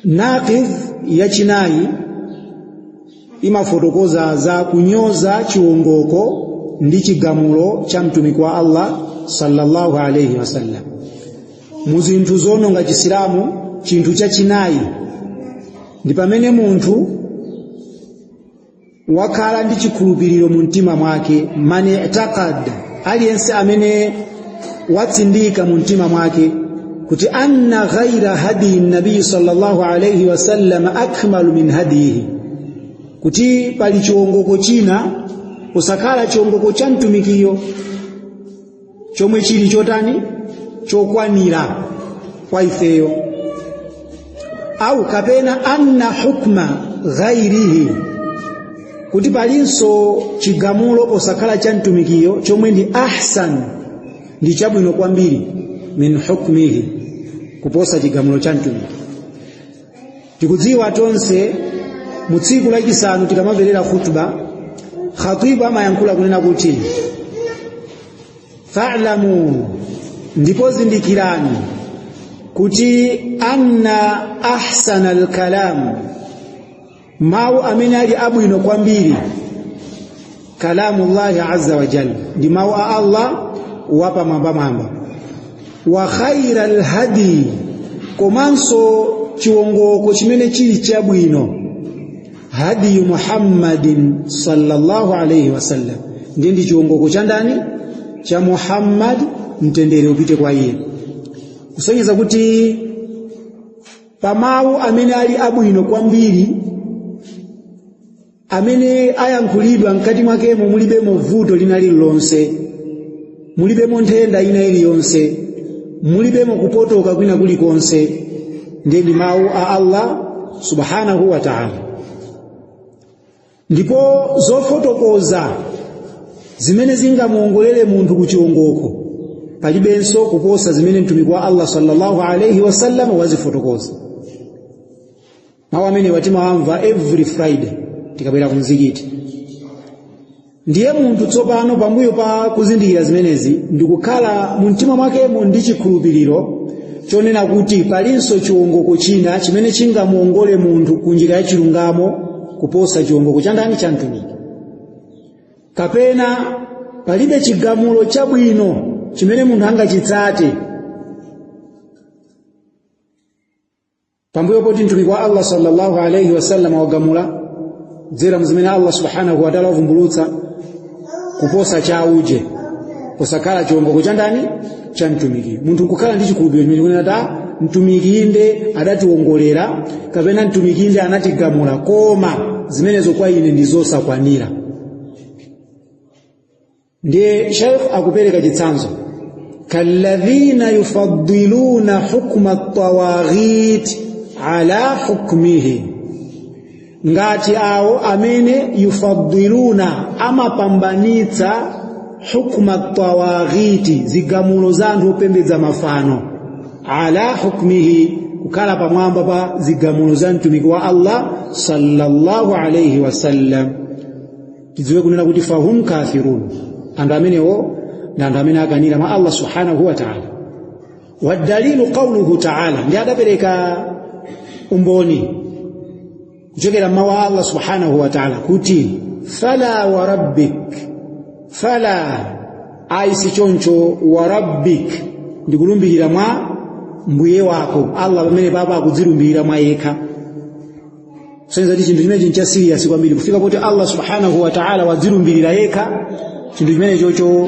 naqidh yachinayi imafotokoza za kunyoza chiwongoko ndi chigamulo cha mtumiki wa Allah sallallahu alayhi wasallam mu zinthu zononga chisilamu chinthu chachinayi ndi pamene munthu wakhala ndi chikhulupiriro mu mtima mwake man i'taqad aliyense amene watsindika mu mtima mwake kuti anna ghaira hadiyi nabiyi sallallahu alaihi wasallam akmalu min hadiyihi kuti pali chiwongoko china osakhala chiwongoko cha mtumikiyo chomwe chili chotani chokwanira kwa ifeyo au kapena anna hukma ghairihi kuti palinso chigamulo posakhala cha mtumikiyo chomwe ndi ahsan ndi chabwino kwambiri min hukmihi kuposa chigamulo cha mtumiki tikudziwa tonse mu tsiku lachisanu tikamamverera khutba khatibu amayankhula kunena kuti fa'lamu ndipo zindikirani kuti anna ahsana alkalam mawu amene ali abwino kwambiri kalamullahi azza wa jalla ndi mawu a allah wapamwambamwamba wa khaira lhadi komanso chiwongoko chimene chili chabwino hadiyu muhammadin sallallahu alaihi wasallam ndiye ndi chiwongoko cha ndani cha muhammad mtendere upite kwa iye kusonyeza kuti pa mawu amene ali abwino kwambiri amene ayankhulidwa mkati mwakemo mulibemo vuto lina lililonse mulibemo nthenda ina iliyonse mulibemo kupotoka kwina kulikonse ndiye ndi mawu a allah subhanahu wa taala ndipo zofotokoza zimene zingamuongolere munthu ku chiwongoko palibenso kuposa zimene mtumiki wa allah sallallahu alaihi wasallam wazifotokoza mawu amenewa timawamva every friday tikabwera ku mzikiti ndiye munthu tsopano pambuyo pa kuzindikira zimenezi ndikukhala mu mtima mwakemo ndi chikhulupiriro chonena kuti palinso chiwongoko china chimene chingamuongole munthu ku njira ya chilungamo kuposa chiwongoko cha ndani cha mtumiki kapena palibe chigamulo chabwino chimene munthu angachitsate pambuyo poti mtumiki wa allah sallallahu alaihi wasallam wagamula kudzera mzimene allah subhanahu wataala wavumbulutsa kuposa cha uje kusakhala chiongoko cha ndani cha mtumiki munthu kukhala ndi chikhulupiriro chomanena kuti mtumiki inde adationgolera kapena mtumiki inde anatigamula koma zimenezo kwa ine ndi zosakwanira ndiye sheikh akupereka chitsanzo kalladhina yufaddiluna hukma tawaghit ala hukmihi ngati awo amene yufaddiluna amapambanitsa hukma tawaghiti zigamulo za anthu opembedza mafano ala hukmihi kukhala pamwamba pa zigamulo za mtumiki wa Allah sallallahu alayhi wasallam tidziwe kunena kuti fahum kafirun anthu amenewo ndi anthu amene akanira mwa Allah subhanahu wa ta'ala wadalilu qauluhu taala ndi adapereka umboni kuchokera mmawu a allah subhanahu wa taala kuti fala wa rabbik fala ayi si choncho wa rabbik ndikulumbirira mwa mbuye wako allah pamene apa akudzilumbirira mwa yekha kusonyeza kuti chinthu chimenechi ncha serious kwambiri kufika pakuti allah subhanahu wa taala wadzilumbirira yekha chinthu chimenechocho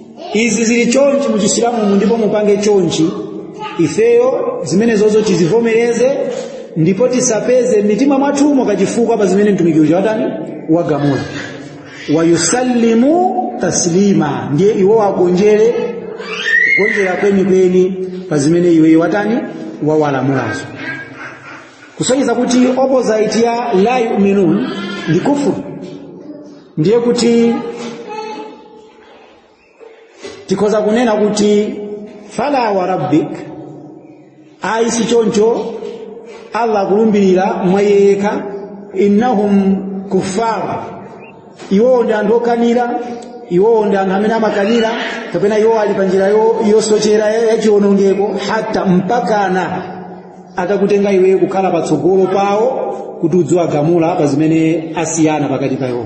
izi zili chonchi mu chisilamumu ndipo mupange chonchi ifeyo zimenezozo tizivomereze ndipo tisapeze mmitima mwathumo kachifukwa pa zimene mtumiki uja watani wagamula wayusallimu taslima ndiye iwo agonjere kugonjera kwenikweni pa zimene iweyo watani wawalamulazo kusonyeza kuti opposite ya la yuminun ndi kufuru ndiye kuti tikhoza kunena kuti fala wa rabbik ayi si choncho allah akulumbirira mwa iye yekha innahum kuffar iwowo ndi anthu okanira iwowo ndi anthu amene amakanira kapena iwowo ali pa njira yosochera yachiwonongeko hatta mpakana atakutenga iweyo kukhala patsogolo pawo kuti udziwagamula pa zimene asiyana pakati pa iwowo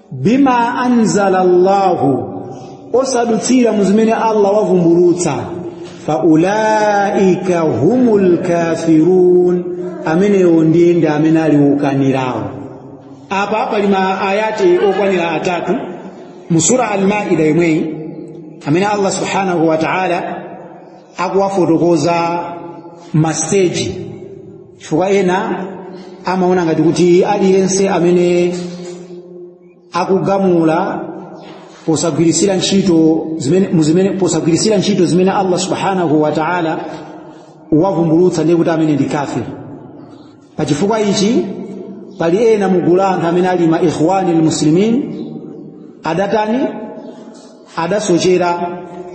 bima anzala Allahu osadutsira mu zimene Allah wavumbulutsa faulaika humul kafirun amenewo ndiye ndi amene ali okanirawo apa pali ma ayati okwanira atatu mu sura al-maida yomweyi amene Allah subhanahu wa ta'ala akuwafotokoza masiteji chifukwa ena amaona ngati kuti aliyense amene akugamula posagwiritsira ntchito zimene Allah subhanahu wa ta'ala wavumbulutsa ndiye kuti amene ndi kafiri pa chifukwa ichi pali ena mu gulu la anthu amene ali ma ikhwani almuslimin adatani adasochera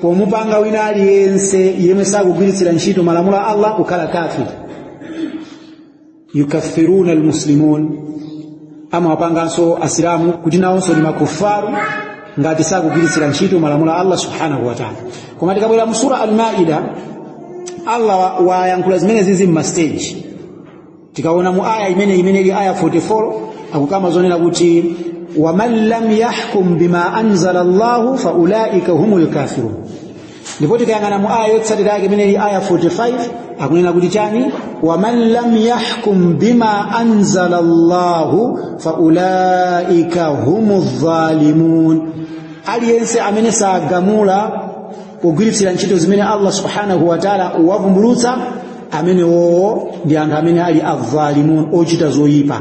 pomupanga wina aliyense yemwe sakugwiritsira ntchito malamulo a allah kukhala kafiri yukaffiruna almuslimun amawapanganso asilamu kuti nawonso ndi makufaru ngati sakugwiritsira ntchito malamulo a allah subhanahu wataala koma tikabwera mu sura almaida allah wayankhula zimenezizi mumasteji tikaona mu aya imene imene ili aya 44 akukamba zonena kuti waman lam yahkum bima anzala llahu faulaika humul kafirun ndipo tikayang'ana mu aya yotsatira yake imene ili aya 45 akunena kuti chani waman lam yahkum bima anzala llahu faulaika humu dhalimun aliyense amene sagamula pogwiritsira ntchito zimene allah subhanahu wataala wavumbulutsa amenewowo ndi anthu amene ali adhalimun ochita zoyipa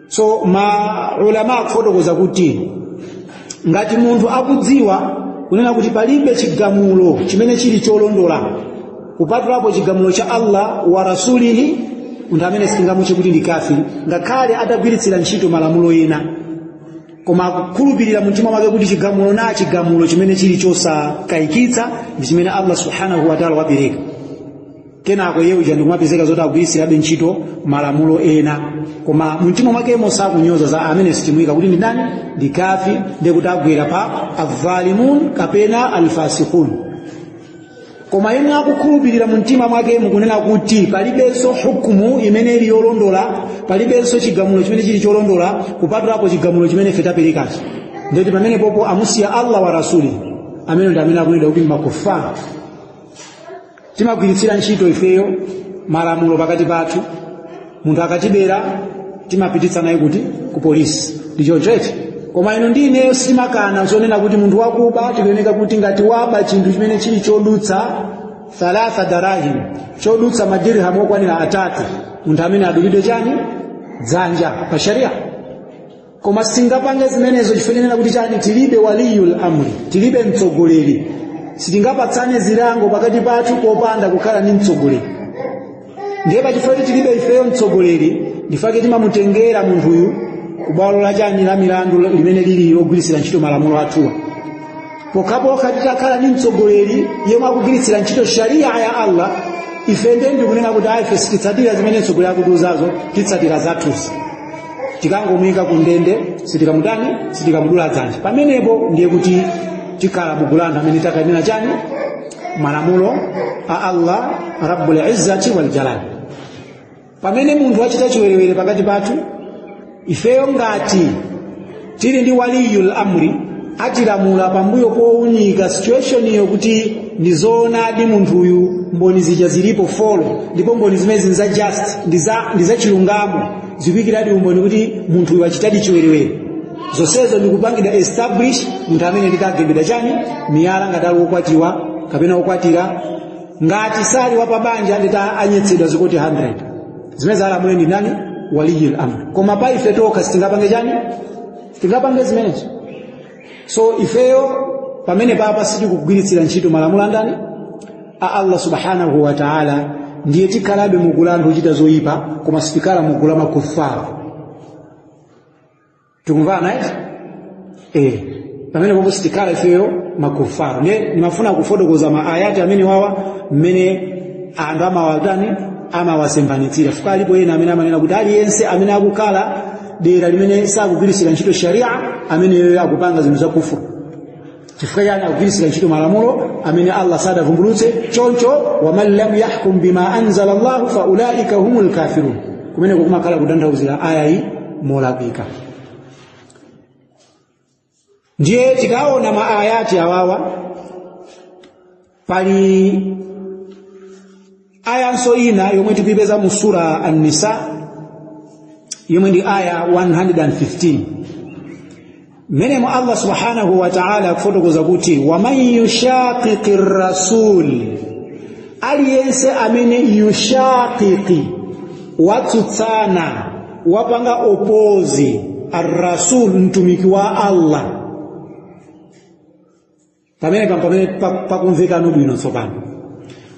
so maulama akufotokoza kuti ngati munthu akudziwa kunena kuti palibe chigamulo chimene chili cholondola kupatulapo chigamulo cha allah wa rasulihi munthu amene sitingamutche kuti ndi kafiri ngakhale atagwiritsira ntchito malamulo ena koma akukhulupirira mumtima mwake kuti chigamulo na chigamulo chimene chili chosakayikitsa ndi chimene allah subhanahu wataala wapereka kenako iye uja ndikumapezeka zoti akugwiritsirabe ntchito malamulo ena koma mumtima mwakemo sakunyoza za amene sitimuika kuti ndi ndani ndi kafiri ndiye kuti agwera pa adhalimun kapena alfasikun koma yemwe akukhulupirira mumtima mwakemo kunena kuti palibenso hukumu imene ili yolondola palibenso chigamulo chimene chili cholondola kupatulapo chigamulo chimene ife taperekacho ndiye kuti pamenepopo amusiya allah wa rasuli amene ndi amene akunena kuti ndi makufara timagwiritsira ntchito ifeyo malamulo pakati pathu munthu akatibera timapititsa naye kuti ku polisi ndi choncho eti koma inu ndi ineyo sitimakana zonena kuti munthu wakuba tikuyeneka kuti ngati waba chinthu chimene chili chodutsa thalatha darahim chodutsa madirham okwanira atatu munthu amene adulidwe chani dzanja pa sharia koma sitingapange zimenezo chifukwa chonena kuti chani tilibe waliyul amri tilibe mtsogoleri sitingapatsane zilango pakati pathu popanda kukhala ndi mtsogoleri ndiye pachifukwa choti tilibe ifeyo mtsogoleri ndifake timamutengera munthuyu kubwalo la chani la milandu limene lili logwiritsira ntchito malamulo athuwa pokhapokha titakhala ndi mtsogoleri yemwe akugwiritsira ntchito sharia ya allah ife ndiye ndikunena kuti ayi ife sititsatira zimene mtsogoleri akutiuzazo titsatira zathuzi tikangomuyika ku ndende sitikamutani sitikamudula dzanja pamenepo ndiye kuti tikhala mugulu la anthu amene takanena chani malamulo a allah rabbul izzati wal jalal pamene munthu wachita chiwerewere pakati pathu ifeyo ngati tili ndi waliyul amri atilamula pambuyo powunika situationiyo kuti ndi zoonadi munthuyu mboni zija zilipo folo ndipo mboni zimenezi ndi za just ndi za- ndi za chilungamo zikuyikiradi umboni kuti munthuyu wachitadi chiwerewere zonsezo ndikupangidwa establish munthu amene nditagendedwa chani miyala ngati ali wokwatiwa kapena wokwatira ngati sali wapabanja ndita anyetsedwa zikoti 100 zimene alamule ndi ndani waliyul amr koma pa ife tokha sitingapange chani sitingapange zimenezo so ifeyo pamene papa sitikugwiritsira ntchito malamulo andani a allah subhanahu wa taala ndiye tikhalabe mugulu la anthu ochita zoyipa koma sitikhala mugulu la makufara tikumvana eti eh pamene popo sitikhala ifeyo makufara nde ndimafuna kufotokoza ma ayati amene wawa mmene anthu amawatani amawasembanitsira fuka alipo ena amene amanena kuti aliyense amene akukhala dera limene sakugwiritsira ntchito sharia ameneyo akupanga zinthu za kufuru chifukwa chani akugwiritsira ntchito malamulo amene allah sadavumbulutse choncho waman lam yahkum bima anzala llahu fa ulaika humu lkafirun kumeneko kumakhala kutanthauzira aya iyi molakwika ndiye tikaona maayati awawa pali ayanso ina yomwe tikuyipeza mu sura an-nisa yomwe ndi aya 115 mmenemo allah subhanahu wa ta'ala akufotokoza kuti waman yushaqiqi rasul aliyense amene yushaqiqi watsutsana wapanga opozi arrasul mtumiki wa allah pamenepa pamene pakumvekano bwino tsopano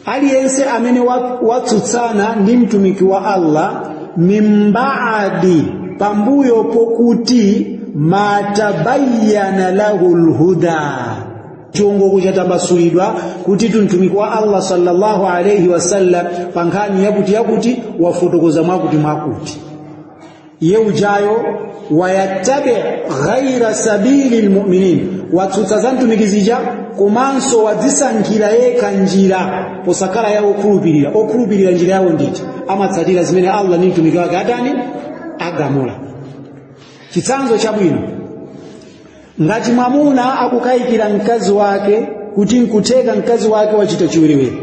aliyense amene watsutsana ndi mtumiki wa allah mimbaadi pambuyo pokuti matabayyana lahu lhuda chiongoko chatambasulidwa kuti mtumiki wa allah sallallahu alaihi wasallam pa nkhani yakuti yakuti wafotokoza mwakuti mwakuti iye ujayo wayattabi ghaira sabili lmuminin watsutsa za mtumiki zija komanso wadzisankhira yekha njira posakhala ya okhulupirira okhulupirira njira yawo ndi iti amatsatira zimene allah ndi mtumiki wake atani agamula chitsanzo chabwino ngati mwamuna akukayikira mkazi wake kuti nkutheka mkazi wake wachita chiwerewere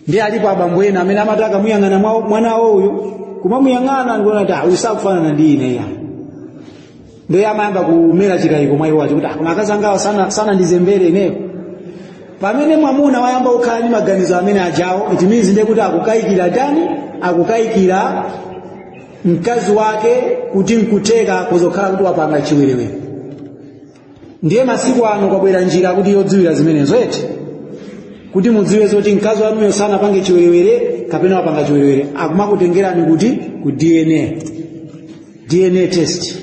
ndiye alipo abambo ena amene amati akamuyang'ana mwa- mwana wawo uyu kumamuyang'ana ndikuona kuti "Ah, uyu sakufanana ndi ine ya ndiye amayamba kumera chikayiko mwa iwo chakuti "Ah, koma akazi angawa sana, sanandizembere ineyo pamene mwamuna wayamba kukhala ndi maganizo amene ajawo it means ndiye kuti akukayikira tani akukayikira mkazi wake kuti nkutheka kuzokhala kuti wapanga chiwerewere ndiye masiku ano kwabwera njira akuti yodziwira zimenezo eti kuti mudziwe zoti mkazi wanuyo sanapange chiwerewere kapena wapanga chiwerewere akumakutengerani kuti ku dna dna test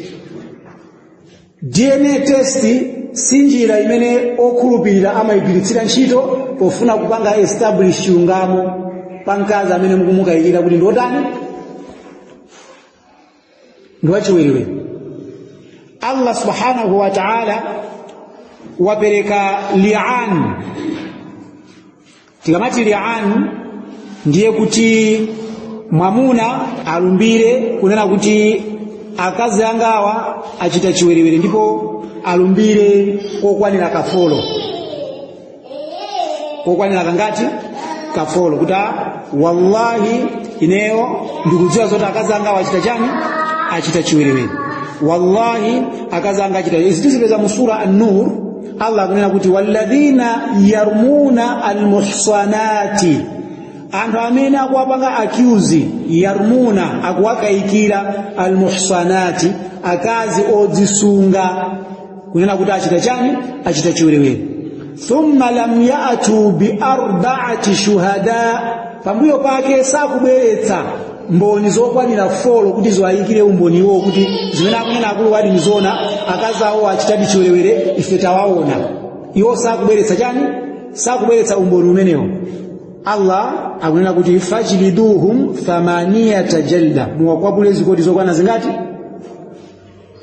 dna test si njira imene okhulupirira amayigwiritsira ntchito pofuna kupanga establish chilungamo pa mkazi amene mukumukayikira kuti ndiotani ndi wachiwerewere allah subhanahu wa taala wapereka lian tikamati lian ndiye kuti mwamuna alumbire kunena kuti akazi angawa achita chiwerewere ndipo alumbire kokwanira kafolo kokwanira kangati kafolo kuti a wallahi ineyo ndikudziwa zoti akazi angawa achita chani achita chiwerewere wallahi akazi anga achita izi tizipeza mu sura an-nur allah akunena kuti walladhina yarmuna almuhsanati anthu amene akuwapanga accuse yarmuna akuwakayikira almuhsanati akazi odzisunga kunena kuti achita chani achita chiwerewere thumma lam yatu biarbaati shuhada pambuyo pake sakubweretsa mboni zokwanira folo kuti ziwayikire umboni iwo kuti zimene akunena akuluwadi nzoona akazi awo achitadi chiwerewere ife tawaona iwo sakubweretsa chani sakubweretsa umboni umenewo allah akunena kuti fajliduhum thamanina jalda muwakwapule zikoti zokwana zingati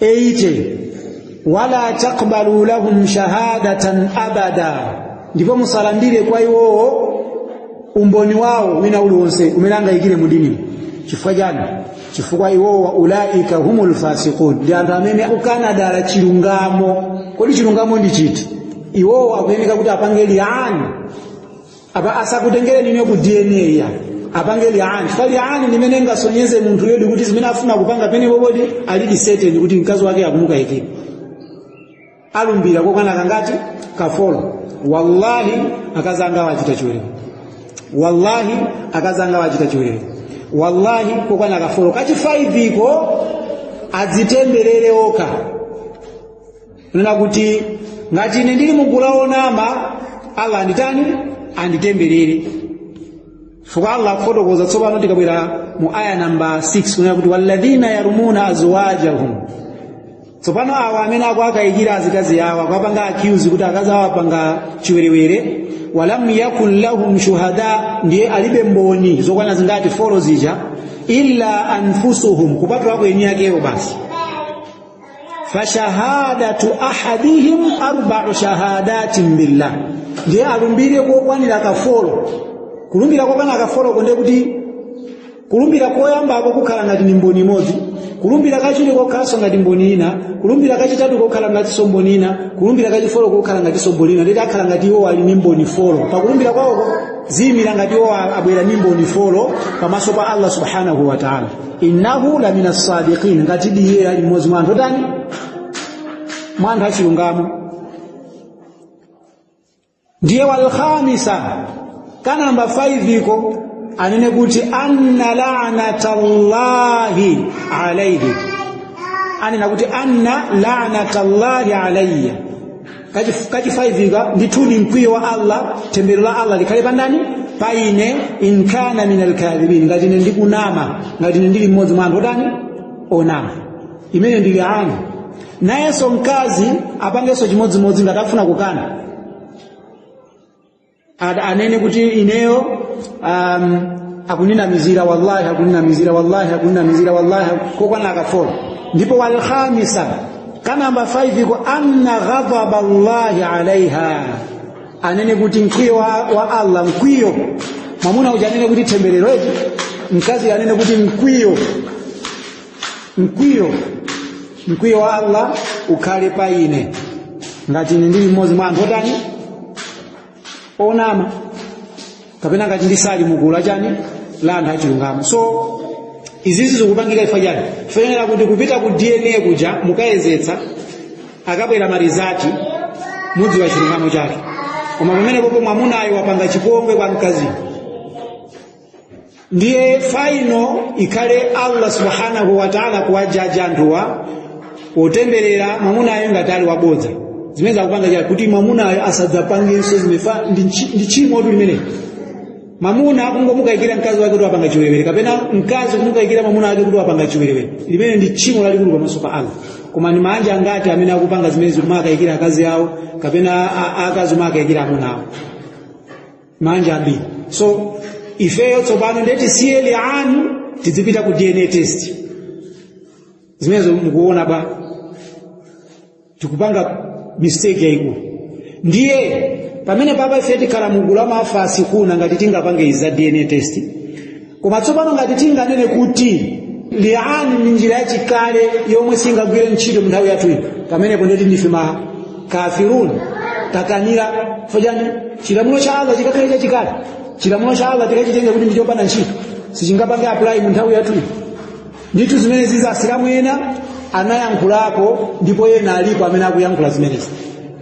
eite wala taqbalu lahum shahadatan abada ndipo musalandire kwa iwowo umboni wawo wina uliwonse umene angayikire mu dini chifukwa chani chifukwa iwowo wa ulaika humul fasiqun ndi anthu amene akukana dala chilungamo kodi chilungamo ndi chiti iwowo akuyeneka kuti apange liani apa asakutengereni ine ku dna ya apange liani chifukwa liani ndi imene ingasonyeze munthuyodi kuti zimene afuna kupanga apa ndipo poti alidi seteni kuti mkazi wake akumukayikira alumbira kokwana kangati kafolo wallahi akazi angawa achita chiwerewere wallahi akazi angawa achita chiwerewere wallahi kokwana kafolo kachifaiviko adzitemberere okha kunena kuti ngati ine ndili mu gulu la onama allah anditani anditemberere chifukwa allah akufotokoza tsopano tikabwera mu aya namba 6 kunena kuti walladhina yarumuna azwajahum tsopano awa amene akuwakayikira azikazi awo akuwapanga accuse kuti akazi awo apanga chiwerewere walam yakun lahum shuhada ndiye alibe mboni zokwana zingati folo zija illa anfusuhum kupatulako eni akewo basi fashahadatu ahadihim arbau shahadatin billah ndiye alumbire kokwanira kafolo kulumbira kokwana kafoloko nde kuti kulumbira koyambako kukhala ngati ndi mboni imodzi kulumbira kachiwiri kokhalanso ngati mboni ina kulumbira kachitatu kokhala ngatinso mboni ina kulumbira kachifolo kokhala ngatinso mboni ina nde kuti akhala ngati iwo ali ndi mboni folo pakulumbira kwawoko ziyimira ngati iwo abwera ndi mboni folo pamaso pa allah subhanahu wa taala innahu la mina sadiqin ngatidi iye ali mmodzi mwa anthu otani mwa anthu achilungamo ndiye walkhamisa kanamba 5 iko anene kuti anna lanatallahi alaihi anena kuti anna lanatallahi alaiya Kachif- kachifaiviko ndithudi mkwiyo wa allah thembero la allah likhale pa ndani pa ine in kana min alkadhibin ngati ine ndikunama ngati ine ndili mmodzi mwa anthu otani onama imeneyi ndi liani nayenso mkazi apangenso chimodzimodzi ngati akufuna kukana Ad- anene kuti ineyo um, akuninamizira wallahi akuninamizira wallahi akuninamizira wallahi kokwana kafolo ndipo walkhamisa kanamba 5 iko anna ghadhaba llahi alaiha anene kuti mkwiyo wa, wa allah mkwiyo mwamuna uja anene kuti temberero eti mkazi anene kuti mkwiyo mkwiyo mkwiyo wa allah ukhale pa ine ngati ine ndili mmodzi mwa anthu otani onama kapena ngati ndisali mugulu la chani la anthu achilungamo so izizi zikupangika chifukwa chani chifukwa kuti kupita ku dna kuja mukayezetsa akabwera marizati mudziwa chilungamo chake koma pamenepopo mwamunayo wapanga chipongwe kwa mkaziyo ndiye faino ikhale allah subhanahu wataala kuwajaji anthuwa otemberera mwamunayo ngati ali wabodza zimenezo kupanga chake kuti mwamunayo asadzapangenso zimenezo chifukwa ndi nchi- ndi tchimotu limeneli mwamuna kungomukayikira mkazi wake kuti wapanga chiwerewere kapena mkazi kumukayikira mwamuna wake kuti wapanga chiwerewere limeneli ndi tchimo lalikulu pamaso pa allah koma ndi maanja angati amene akupanga zimenezi kumakayikira akazi awo kapena a- a- akazi kumakayikira amuna awo manja ambiri so ifeyo tsopano ndiye tisiye liani tidzipita ku dna test zimenezo mukuona bwa tikupanga mistake yayikulu ndiye pamene apapa ife tikhala mugulu la mafasikuna ngati tingapange izi za dna test koma tsopano ngati tinganene kuti liani ndi njira yachikale yomwe singagwire ntchito munthawi yathu ino pamenepo ndeti ndife ma kafirun takanira for chani chilamulo cha allah chikakhale chachikale chilamulo cha allah tikachitenga kuti ndichopanda ntchito sichingapange apply munthawi yathu ino ndithu zimenezi za asilamu ena anayankhulako ndipo ena alipo amene akuyankhula zimenezi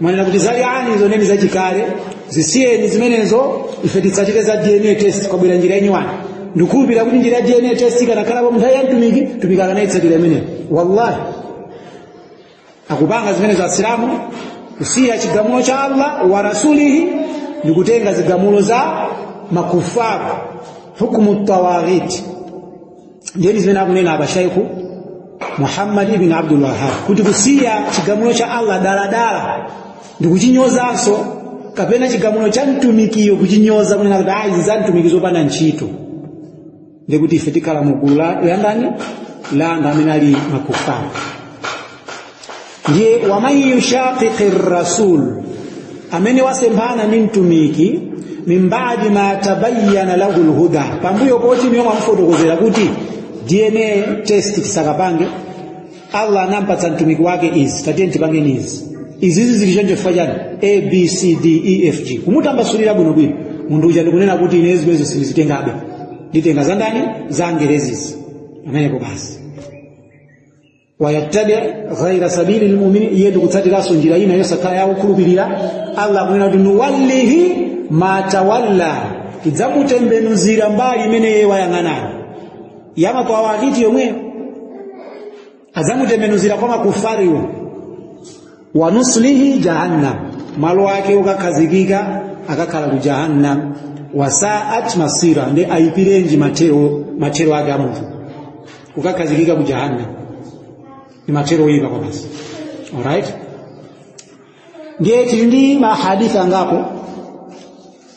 mwanena kuti za liani zoneni zachikale zisiyeni zimenezo ife titsatire za dna test kwabwera njira yenyiwani ndikukhulupirira kuti njira ya dna test ikanakhalapo munthawi ya mtumiki mtumiki akanayitsatira imeneyo wallahi akupanga zimenezo asilamu kusiya chigamulo cha allah wa rasulihi ndi kutenga zigamulo za makufaru hukmu tawaghiti ndiye ndi zimene akunena apa shaikhu muhammad ibn abdul wahab kuti kusiya chigamulo cha allah daladala ndi kuchinyozanso kapena chigamulo cha mtumikiyo kuchinyoza kunena kuti ayi zizamtumikizo zopanda ntchito ndikuti ife tikhala mu gulu la la ndani la anthu amene ali makufara ndiye waman yushaqiqi rasul amene wasemphana ndi mtumiki min badi ma tabayyana lahu lhuda pambuyo poti inuyo mwamufotokozera kuti dna test tisakapange allah anampatsa mtumiki wake izi tatiyeni tipangeni izi izizi zili choncho chifukwa chani a b c d e f g kumutambasulira bwinobwino munthu uja ndikunena kuti ine zimenezo sindizitengabe nditenga za ndani za angerezizi pamenepo basi wayattabi ghaira sabili lmuminin iye ndikutsatiranso njira ina yosakhala ya okhulupirira allah akunena kuti nuwallihi ma tawalla tidzamutembenuzira mbali imene iye wayang'anayo ya ma tawaghiti yomweyo adzamutembenuzira kwa makufariwo wanuslihi jahannam malo ake ukakhazikika akakhala ku jahannam wasaat masira ndi ayipirenji mathero mathero ake a munthu ukakhazikika ku jahannam ni mathero oyipa kwabasi alright ndiye tili ndi mahadithi angapo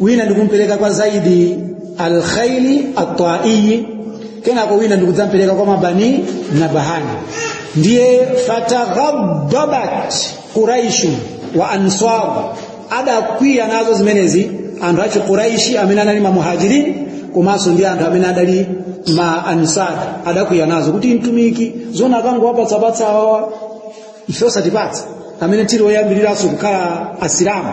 wina ndikumpereka kwa zaidi alkhaili ataiyi kenako wina ndikudzampereka kwa ma bani nabahani ndiye fataghaddabat quraishu wa ansar adakwiya nazo zimenezi anthu achi quraishi amene anali mamuhajirin komanso ndi anthu amene adali ma ansar adakwiya nazo kuti mtumiki zona akangowapatsa-patsa awawa ife osatipatsa amene tili oyambiriranso kukhala asilamu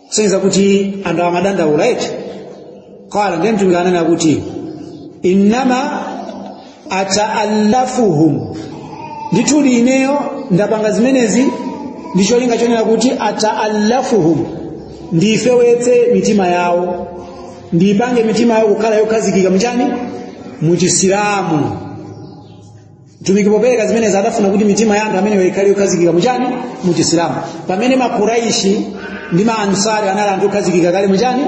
kusonyeza kuti anthu amadandaula eti qala ndiye mtumiki ananena kuti innama ataallafuhum ndithudi ineyo ndapanga zimenezi ndi cholinga chonena kuti ataallafuhum ndifewetse mitima yawo ndipange mitima yawo kukhala yokhazikika mchani muchisilamu mtumiki popereka zimenezi adafuna kuti mitima ya anthu amenewo ikhale yokhazikika muchani mu chisilamu pamene makuraishi ndi maansari anali anthu okhazikika kale muchani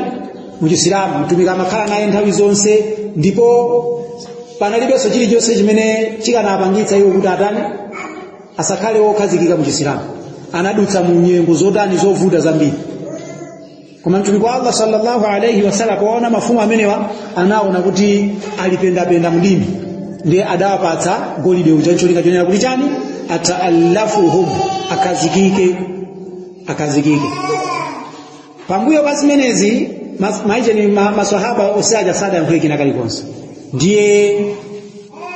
mu chisilamu mtumiki amakhala naye nthawi zonse ndipo panalibenso chilichonse chimene chikanapangitsa iwo kuti atani asakhale wokhazikika mu chisilamu anadutsa mu nyengo zotani zovuta zambiri koma mtumiki wa allah sallallahu alaihi wasallam poona mafumu amenewa anaona kuti alipendapenda mdini ndiye adawapatsa golide uja cholinga chonena kuti chani ataallafuhum akhazikike akhazikike pambuyo pa zimenezi mas- maijeni ma- maswahaba onse aja sadayankhule kena kalikonse ndiye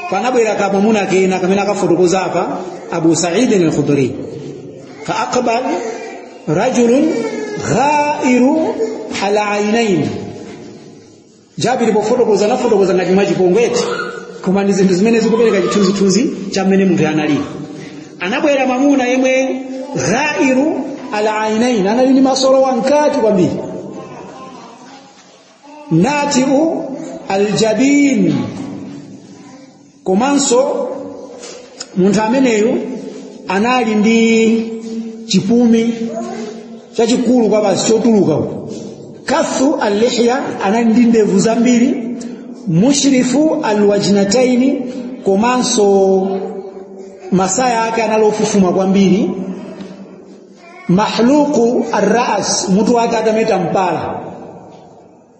panabwera kamwamuna kena kamene akafotokoza apa abu saidin alkhudri faaqbal rajulun ghairu alainain sahabi pofotokoza anafotokoza ngati mwachipongweti koma ndi zinthu zimene zikupereka chithunzithunzi cha mmene munthu analili anabwera mwamuna yemwe ghairu alainain anali ndi maso olowa mkati kwambiri natiu aljabin komanso munthu ameneyu anali ndi chipumi chachikulu kwabasi chotuluka uku kathu allihya anali ndi ndevu zambiri mushrifu alwajnataini komanso masaya ake anali ofufuma kwambiri mahluku arras mutu wake atameta mpala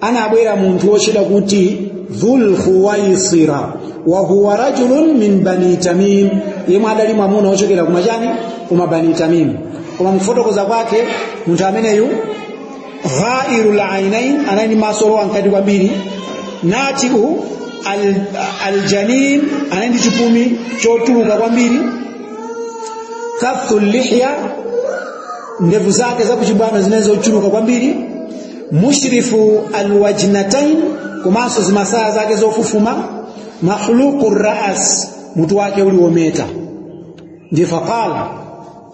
anabwera munthu wotchedwa kuti dhul khuwaisira wa huwa rajulun min bani tamim yemwe adali mwamuna wochokera kumachani kuma bani tamim koma mkufotokoza kwake munthu ameneyu ghairul ainain anali ndi maso olowa mkati kwambiri natiu al, aljanin anali ndi chipumi chotuluka kwambiri kathu lihya ndevu zake zakuchibwano zinali zochuluka kwambiri mushrifu alwajnatain komanso zimasaya zake zofufuma mahluqu ras mutu wake uli wometa ndiye faqala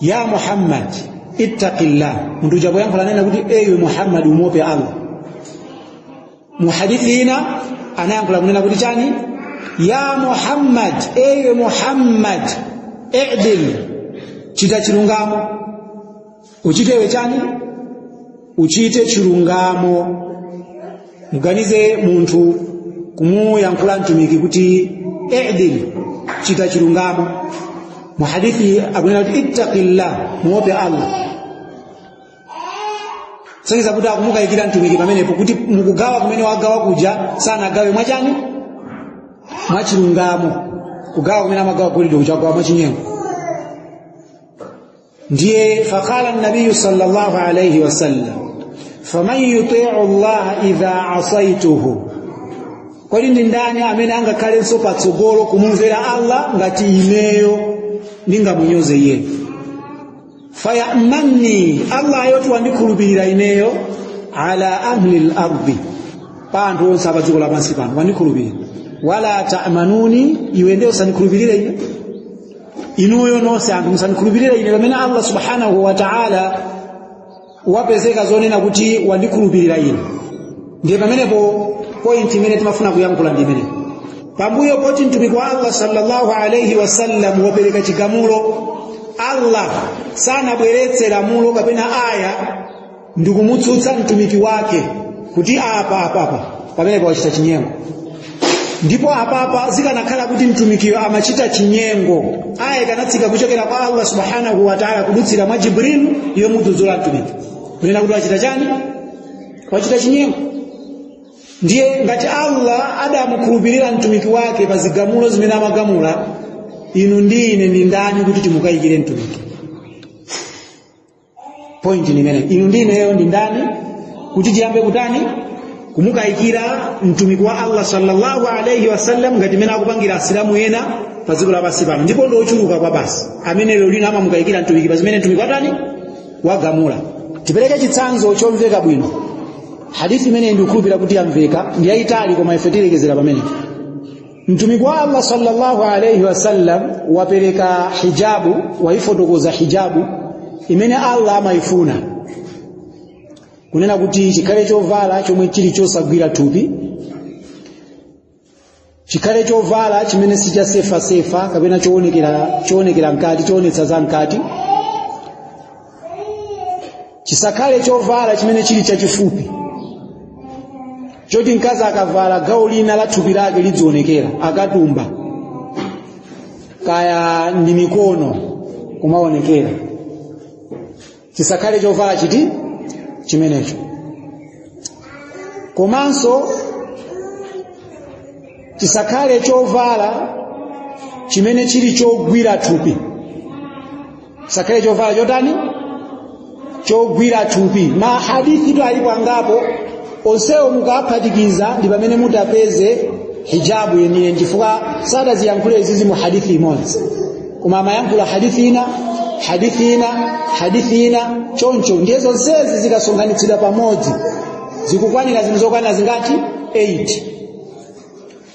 ya muhammad ittaqillah munthu uja poyankhula anena kuti ewe muhammad umuope allah muhadithi ina anayankhula kunena kuti chani ya muhammad ewe muhammad idil chita chilungamo uchitewe chani uchite chilungamo muganize munthu kumuyankhula mtumiki kuti idil chita chilungamo mu hadithi akunena kuti ittaqillah muope allah kusonyeza kuti akumukayikira mtumiki pamenepo kuti mukugawa kumene wagawa kuja sanagawe mwachani mwachilungamo kugawa kumene amagawa golide kuja wagawa mwachinyengo ndiye faqala nabiyu sallallahu alayhi wasallam faman yuti'u llaha idha asaituhu kodi ndi ndani amene angakhalenso patsogolo kumumvera allah ngati ineyo ndingamunyoze iyeyo fayamanuni allah yoti wandikhulupirira ineyo ala ahli lardi pa anthu onse a padziko lapansi pano wandikhulupirira wala tamanuni iwe ndiye usandikhulupirire ine inuyo nonse anthu musandikhulupirire ine pamene allah subhanahu wa taala wapezeka zonena kuti wandikhulupirira ine ndiye pamenepo pointi imene timafuna kuyankhula ndi imeneyo pambuyo poti mtumiki wa allah sallallahu alaihi wasallam wapereka chigamulo allah sanabweretse lamulo kapena aya ndikumutsutsa mtumiki wake kuti apa apapa pamenepa wachita chinyengo ndipo apapa zikanakhala kuti mtumikiyo amachita chinyengo aya ikanatsika kuchokera kwa allah subhanahu wataala kudutsira mwa jibrilu yomudzudzula mtumiki kunena kuti wachita chani wachita chinyengo ndiye ngati allah adamukhulupirira mtumiki wake pa zigamulo zimene amagamula inu ndi ine ndi ndani kuti timukayikire mtumiki pointi ndi imeneyo inu ndi ineyo ndi ndani kuti tiyambe kutani kumukayikira mtumiki wa allah sallallahu alaihi wasallam ngati mene akupangira asilamu ena pa dziko lapansi pano ndipo ndi ochuluka kwabasi amene lero lino amamukayikira mtumiki pa zimene mtumiki watani wagamula tipereke chitsanzo chomveka bwino hadithi imene ndikukhulupirira kuti yamveka ndi yayitali koma ife tilekezera pamenepo mtumiki wa allah sallallahu alaihi wasallam wapereka hijabu wayifotokoza hijabu imene allah amayifuna kunena kuti chikhale chovala chomwe chili chosagwira thupi chikhale chovala chimene si cha sefasefa kapena choonekera mkati choonetsa za mkati chisakhale chovala chimene chili chachifupi choti mkazi akavala gawo lina la thupi lake lidzionekera akatumba kaya ndi mikono kumaonekera chisakhale chovala chiti chimenecho komanso chisakhale chovala chimene chili chogwira thupi sakhale chovala chotani chogwira thupi mahadithi tu alipo angapo onsewo mukawaphatikiza ndi pamene mutapeze hijabu yeniyeni chifukwa sadaziyankhula izizi mu hadithi imodzi koma amayankhula hadithi ina hadithi ina hadithi ina choncho ndiye zonsezi zikasonkhanitsidwa pamodzi zikukwanira zinthu zokwanira zingati 8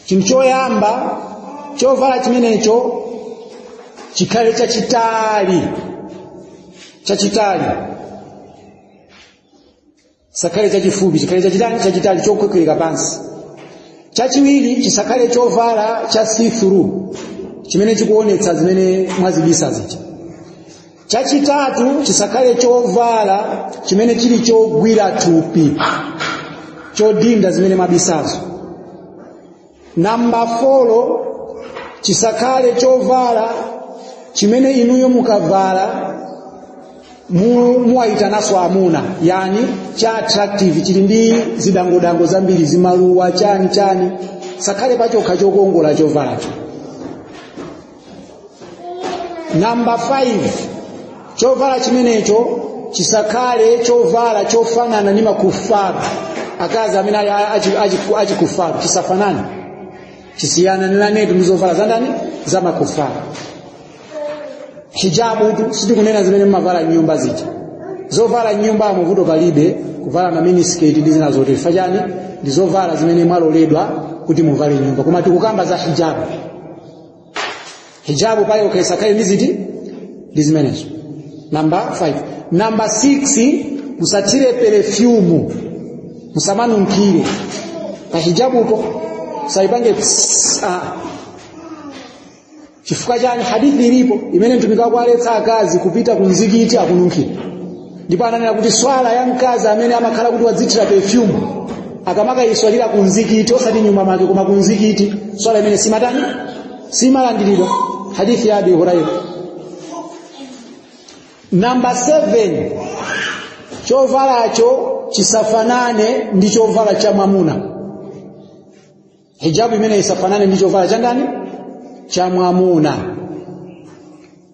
chinthu choyamba chovala chimenecho chikhale chachitali chachitali chisakhale chachifupi chikhale chachitali chachitali chokhwekhwereka pansi chachiwiri chisakhale chovala cha see through chimene chikuonetsa zimene mwazibisa zija chachitatu chisakhale chovala chimene chili chogwira thupi chodinda zimene mwabisazo namba 4 chisakhale chovala chimene inuyo mukavala mu- muwayitananso amuna yani cha attractive chili ndi zidangodango zambiri zimaluwa chani chani chisakhale pachokha chokongola chovalacho namba 5 chovala chimenecho chisakhale chovala chofanana ndi makufaru akazi amene ali achi- achi- achikufaru chisafanane chisiyananetu ndi zovala za ndani za makufaru hijabu tu sitikunena zimene mmavala nyumba zija zovala m'nyumbamu vuto palibe kuvala ma minisketi ndi zina zoti fachani ndi zovala zimene mwaloledwa kuti muvale nyumba koma tikukamba za hijabu hijabu payokha isakhale ndi ziti ndi zimenezo namba 5 namba 6 musathire perefyumu musamanunkhire pa hijabupo musaipange pss, ah. chifukwa chani hadithi ilipo imene mtumiki akuwaletsa akazi kupita kumzikiti akununkhira ndipo ananena kuti swala ya mkazi amene amakhala kuti wadzithira perfume akamakayiswalira ku mzikiti osati nyumba mwake koma ku mzikiti swala imeneyo siimatani siimalandiridwa hadithi ya abu huraira namba 7 chovalacho chisafanane ndi chovala cha mwamuna hijabu imene isafanane ndi chovala cha ndani cha mwamuna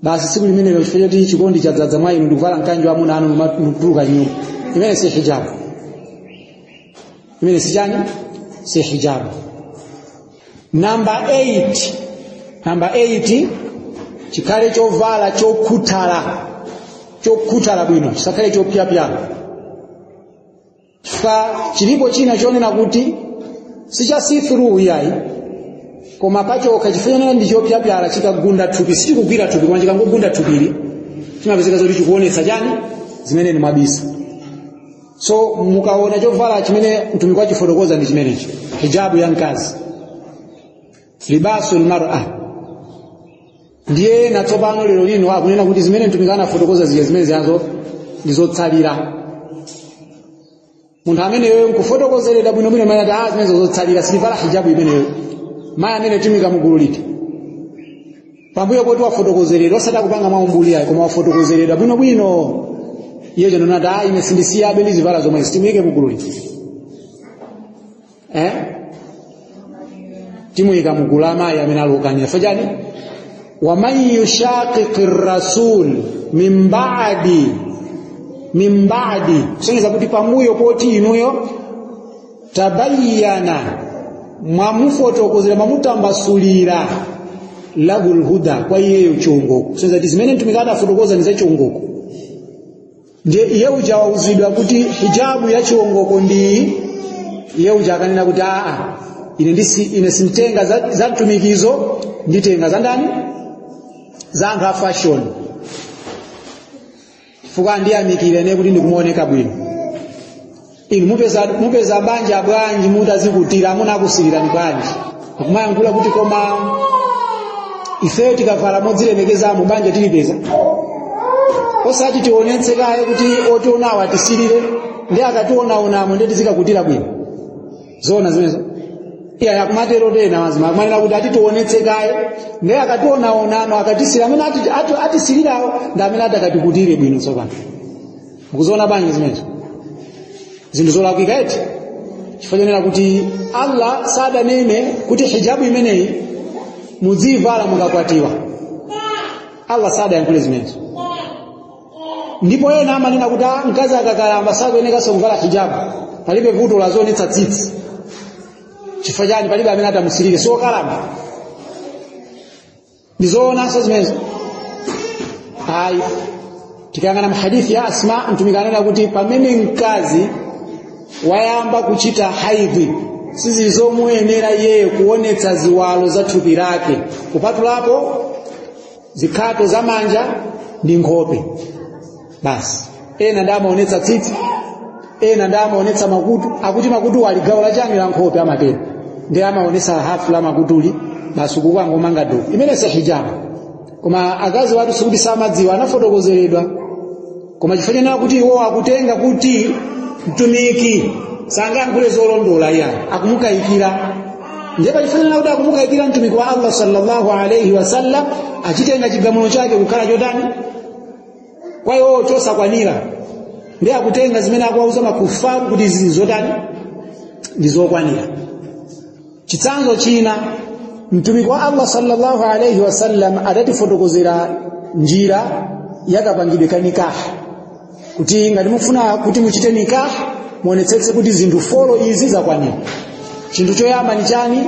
basi tsiku limenelo chifukwa choti chikondi chadzadza mwa inu ndikuvala mkanjo wa amuna anu nkutuluka nyumba imene si hijabu imene si chani si hijabu namba 8 namba 8 chikhale chovala chokhuthala chokhuthala bwino chisakhale chopyapyala chifukwa chilipo china chonena kuti sicha see-through iyayi koma pachokha chifanana ndi chopyapyala chikagunda thupi sichikugwira thupi koma chikangogunda thupili chimapezeka zoti chikuonetsa chani zimene ni mwabisa so mukaona chovala chimene mtumiki wachifotokoza ndi chimenechi hijabu ya mkazi libasu lmara ndiye ena tsopano lero lino akunena kuti zimene mtumiki anafotokoza zija zimene zijazo ndi zotsalira munthu ameneyo nkufotokozeredwa bwinobwino mayi ati ah zimenezo zotsalira sindivala hijabu imeneyo mayi amenewo tiwayika mugulu liti pambuyo poti wafotokozeredwa osati akupanga mwaumbuli ayi koma wafotokozeredwa bwinobwino iye uja nonena kuti ah ine sindisiyabe ndizivala zomwe zi timuike mugulu liti eh? timuyika mugulu la amayi amene ali okanira chifukwa chani waman yushaqiqir rasul min ba'di min ba'di kusonyeza kuti pambuyo poti inuyo tabayyana mwamufotokozera mwamutambasulira lahul huda kwa iyeyo chiongoko kusonyeza kuti zimene mtumiki adafotokoza ndi za chiongoko ndiye iye uja wauzidwa kuti hijabu ya chiongoko ndiyi iye uja akanena kuti aa ine ndisi ine simtenga za, za mtumikizo nditenga za ndani za anthu a fashion chifukwa andiyamikire ine kuti ndikumaoneka bwino inu mupeza, mupeza banja bwanji mutazikutira amuna akusirirani bwanji akumayankhula kuti koma ifeyo tikavala modzilemekezamo banja tilipeza osati tionetse kaye kuti otionawo atisirire nde akationaonamo nde tizikakutira bwino zoona zimenezo iya akumatero ena mazimayi akumanena kuti ah titionetse kaye nde akationaonamo akatisirira amene ati- ati- atisirirawo ndi amene atakatikutirire bwino tsopano mukuziona bwanji zimenezo zinthu zolakwika eti chifukwa chonena kuti allah sadanene kuti hijabu imeneyi mudziyivala mukakwatiwa allah sadayankhule zimenezo ndipo ena amanena kuti "Ah, mkazi akakalamba sakuyenekanso kuvala hijabu palibe vuto aziwonetsa tsitsi chifukwa chani palibe amene atamusilire si okalamba ndizoonanso zimenezo ayi tikayang'ana mahadithi ya asma mtumiki anena kuti pamene mkazi wayamba kuchita haidhi sizili zomuyenera iyeyo kuonetsa ziwalo za thupi lake kupatulapo zikhato za manja ndi nkhope basi ena ndiye amaonetsa tsitsi ena ndiye amaonetsa makutu akuti makutu ali gawo lachani la nkhope amatero ndiye amaonetsa hafu la makutuli basi kukangomanga do imene si hijabu koma akaziwatu sikuti samadziwa anafotokozeredwa koma chifukwa chanena kuti iwo akutenga kuti mtumiki sangayankhule zolondola iya akumukayikira ndipo chifukwa chanena kuti akumukayikira mtumiki wa allah sallallahu alaihi wasallam achitenga chigamulo chake kukhala chotani kwa iwowo chosakwanira ndiye akutenga zimene akuwauza makufaru kuti izi ndi zotani ndi zokwanira chitsanzo china mtumiki wa allah sallallahu alaihi wasallam adatifotokozera njira yakapangidwe ka nikaha kuti ngati mufuna kuti muchite nikaha muonetsetse kuti zinthu folo izi zakwanira chinthu choyamba ni chani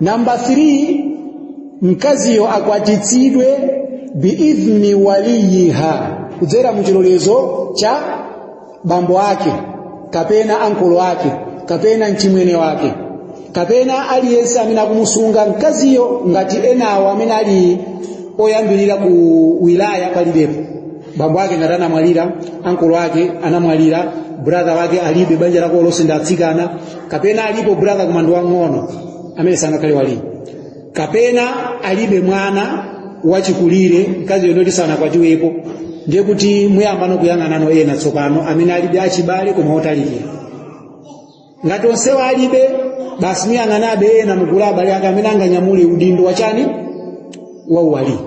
namba 3 mkaziyo akwatitsidwe biidhni waliyiha kudzera muchilolezo cha bambo ake kapena ankolo ake kapena mchimwene wake kapena aliyense amene akumusunga mkaziyo ngati enawo amene ali oyambirira ku wilaya palibepo bambo ake ngati anamwalira ankolo ake anamwalira brother wake alibe banja lako lonse ndi atsikana kapena alipo brother koma ndi wang'ono amene sangakhale waliyi kapena alibe mwana wachikulire mkaziyo ndoti sanakwatiwepo ndiye kuti muyambano kuyang'anano ena tsopano amene alibe achibale koma otalikira ngati onsewo alibe basi muyang'anabe ena mugulu la abale ake amene anganyamule udindo wachani wa uwaliyi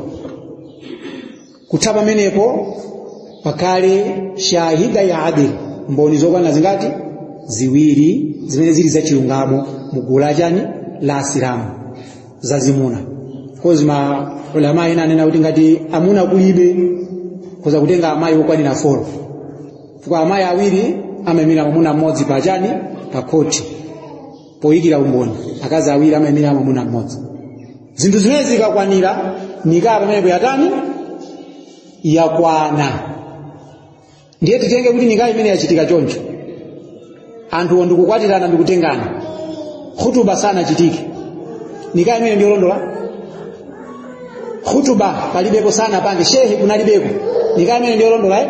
kutha pamenepo pakhale shahidayi adil mboni zokwana zingati ziwiri zimene zili zachilungamo mugulu la chani la asilamu zazimuna kozi maulama ena anena kuti ngati amuna kulibe khoza kutenga amayi okwanira folo chifukwa amayi awiri amaimira mwamuna mmodzi pa chani pa khoti poyikira umboni akazi awiri amaimira mwamuna mmodzi zinthu zimenezi zikakwanira nikaa pamenepo yatani yakwana ndiye titenge kuti nikaa imene yachitika choncho anthuwo ndikukwatirana ndikutengana khutuba sanachitike nikaa imene ndiyolondola khutuba palibepo sanapange shehe kunalibeko nikaa imene ndiyolondola eh?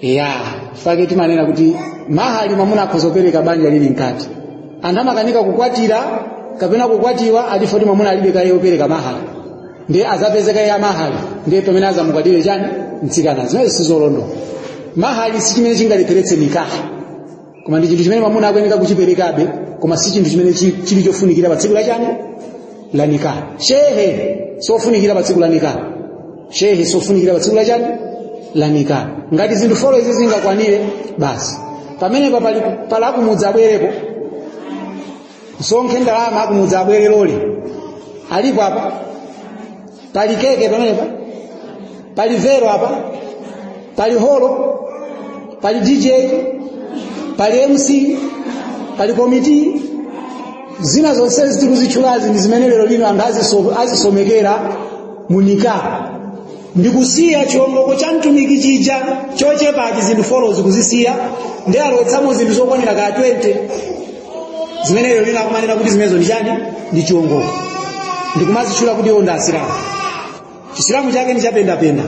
ya fake timanena kuti mahali mwamuna akhoza kupereka banja lili mkati anthu amakanika kukwatira kapena kukwatiwa ati chifukwa kuti mwamuna alibe kaye yopereka mahali ndiye azapeze kaye ya mahali ndiye pamene azamukwatire chani mtsikana zimenezo sizolondola mahali si chimene chingalepheretse nikaha koma ndi chinthu chimene mwamuna akuyeneka kuchiperekabe koma si chinthu chimene chi- chili chofunikira pa tsiku la chani la nikah shehe sofunikira pa tsiku la nikah shehe sofunikira pa tsiku la chani la nikah ngati zinthu folo izi zingakwanire basi pamenepa palakumudza abwerepo msonkhe ndalama akumudza abwere lole aliko apa pali keke pamenepa pali vero apa pali holo pali dj pali mc pali komiti zina zonse zitikuzichulazi ndi zimene lero lino anthu aziso- azisomekera mu nikah ndikusiya chiwongoko cha mtumiki chija chochepa cha zinthu folozi kuzisiya ndi alowetsamo zinthu zokwanira kaya 20 zimene lero lina akumanena kuti zimenezo ndi chani ndi chiwongoko ndikumazitchula kuti iwo ndi asilamu chisilamu chake ndi chapendapenda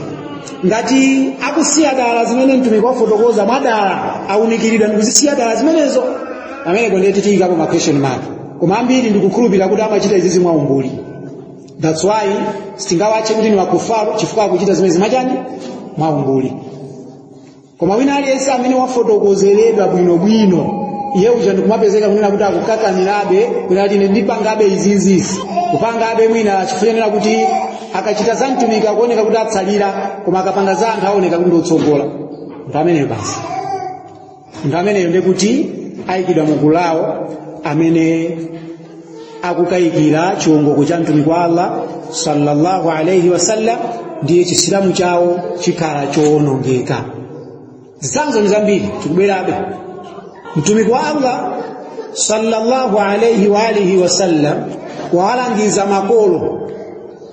ngati akusiya dala zimene mtumiki wafotokoza mwadala aunikiridwa ndikuzisiya dala zimenezo pamenepo ndiye tiyikapo ma question mark koma ambiri ndikukhulupirira kuti amachita izizi mwaumbuli that's why sitingawatche kuti ni wakufaru chifukwa akuchita zimene zimachani mwaumbuli koma wina aliyense amene wafotokozeredwa bwinobwino iye uja ndikumapezeka kunena kuti akukakamirabe kunena kuti ine ndipangabe izizizi kupangabe mwina chifukwa kuti akachita za mtumiki akuoneka kuti atsalira koma akapanga za anthu aoneka kuti ndiotsogola nthu ameneyo basi munthu ameneyo nde kuti ayikidwa mu gulu lawo amene akukayikira chiwongoko cha mtumiki wa allah sallallahu alaihi wasallam ndiye chisilamu chawo chikhala chowonongeka zitsanzo ndi zambiri tikubwerabe mtumiki wa allah sallallahu alaihi wa alihi wasallam walangiza makolo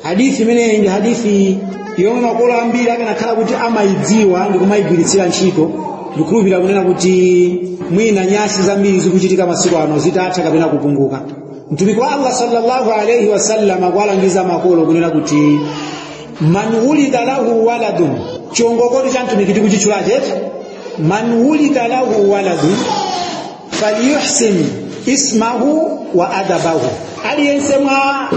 hadithi imeneyi ndi hadithi yomwe makolo ambiri akanakhala kuti amayidziwa ndi kumayigwiritsira ntchito ndikhulupirira kunena kuti mwina nyasi zambiri zikuchitika masiku ano zitatha kapena kupunguka mtumiki wa allah sallallahu alaihi wasallam akuwalangiza makolo kunena kuti man wulida lahu waladun chiongokotu cha mtumiki tikuchitchula chete man wulida lahu waladun falyuhsin ismahu wa adabahu aliyense mwa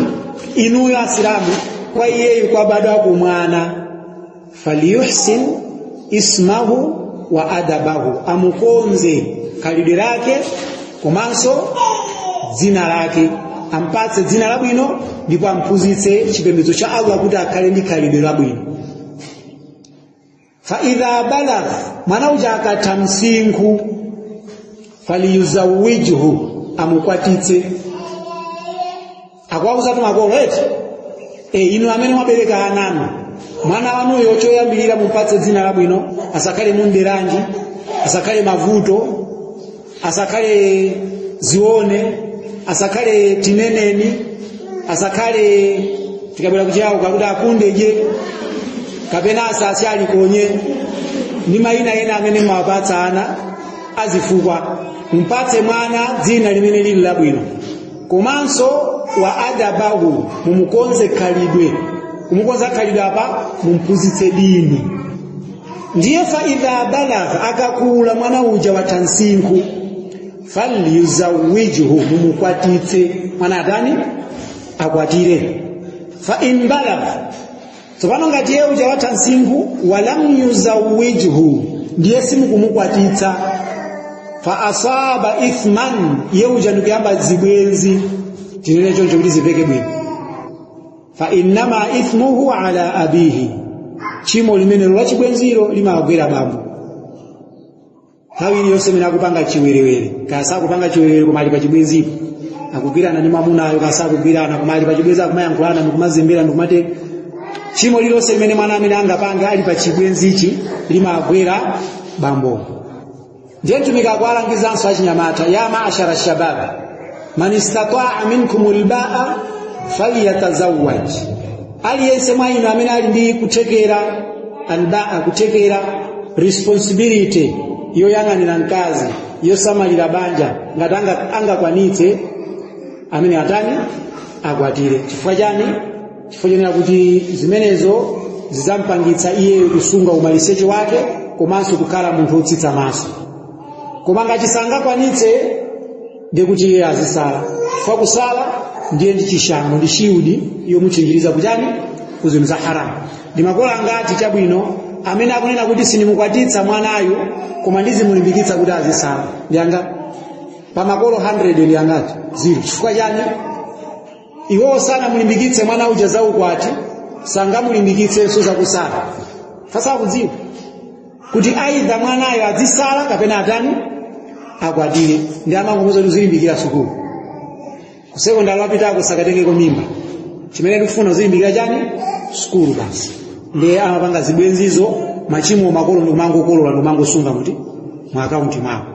inuyo asilamu kwa iyeyu kwabadwako mwana falyuhsin ismahu wa adabahu amukonze khalidwe lake komanso dzina lake ampatse dzina labwino ndipo amphunzitse chipembedzo cha allah kuti akhale ndi khalidwe labwino fa idha balagha mwana uja akatha msinkhu faliyuzawijhu amukwatitse akwauza tu makolo eti e, inu amene mwabereka ana inu mwana wanuyo choyambirira mumupatse dzina labwino asakhale mundideranji asakhale mavuto asakhale zione asakhale tineneni asakhale tikabwera kuchiyao kakuti akundeje kapena asausyaje alikonye ndi mayina ena amene mumawapatsa ana azifukwa mpatse mwana dzina limene lili labwino komanso wa adabahu mumukonze khalidwe kumukonza khalidwe apa mumphunzitse dini ndiye fa idha balagha akakula mwana uja watha msinkhu falyuzawijhu mumukwatitse mwana atani akwatire fa in balagha tsopano ngati iye uja watha msinkhu walam yuzawijhu ndiye simukumukwatitsa fa asaba ithman iye uja ndikuyamba zibwenzi tinene choncho kuti zimveke bwino fa innama ithmuhu ala abihi chimo limenelo lachibwenziro limagwera bambo nthawi iliyonse imene akupanga chiwerewere kaya sakupanga chiwerewere koma ali pachibwenzipo akugwirana ndi mwamunayo kaya sakugwirana koma ali pachibwenzi akumayankhulana ndikumazembera ndikumatere chimo lililonse limene mwana ameneyu angapange ali pachibwenzichi limagwera bambo ndiye mtumiki akuwalangizanso achinyamata ya maashara lshabab man istataa minkumul baa falyatazawaj aliyense mwa inu amene ali ndi kuthekera albaa kuthekera responsibility yoyang'anira mkazi yosamalira banja ngati anga- angakwanitse ameneyo atani akwatire chifukwa chani chifukwa chonena kuti zimenezo zidzampangitsa iyeyo kusunga umaliseche wake komanso kukhala munthu wotsitsa maso koma ngati sangakwanitse ndiye kuti iyeyo azisala chifukwa kusala ndiye ndi chishango ndi shiudi yomuchinjiriza kuchani ku zinthu za haramu ndi makolo angati chabwino amene akunena kuti sindimukwatitsa mwanayu koma ndizimulimbikitsa kuti azisala ndi angati pa makolo 100 ndi angati zilo chifukwa chani iwowo sanamulimbikitse mwana uja za ukwati sangamulimbikitsenso zakusala sasa akudziwa kuti aidha mwanayo adzisala kapena atani akwatire ndiye amangomuuza kuti uzilimbikira sukulu kusekondari wapitako usakatengeko mimba chimene tikufuna uzilimbikira chani sukulu basi ndiye amapanga zibwenzizo machimo makolo ndikumangokolola ndikumangosunga muti mu akaunti mwawo